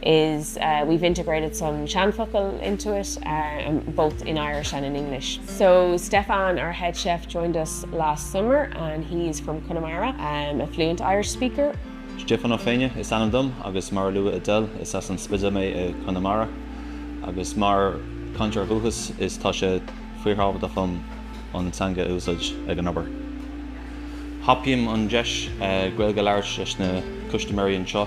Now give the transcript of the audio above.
which is we've integrated some seanfhocail into it, both in Irish and in English. So Stefan, our head chef, joined us last summer and he is from Connemara, a fluent Irish speaker. Stiofán Ó Féinneadh is ainm dom agus mar a luaigh Adele, is as an Spidéal mé i Conamara agus mar chainteoir dúchais tá sé fíorthábhachtach dhom an teanga a úsáid ag an obair. Thapaím an deis Gaeilge a labhairt leis na custaiméirí anseo.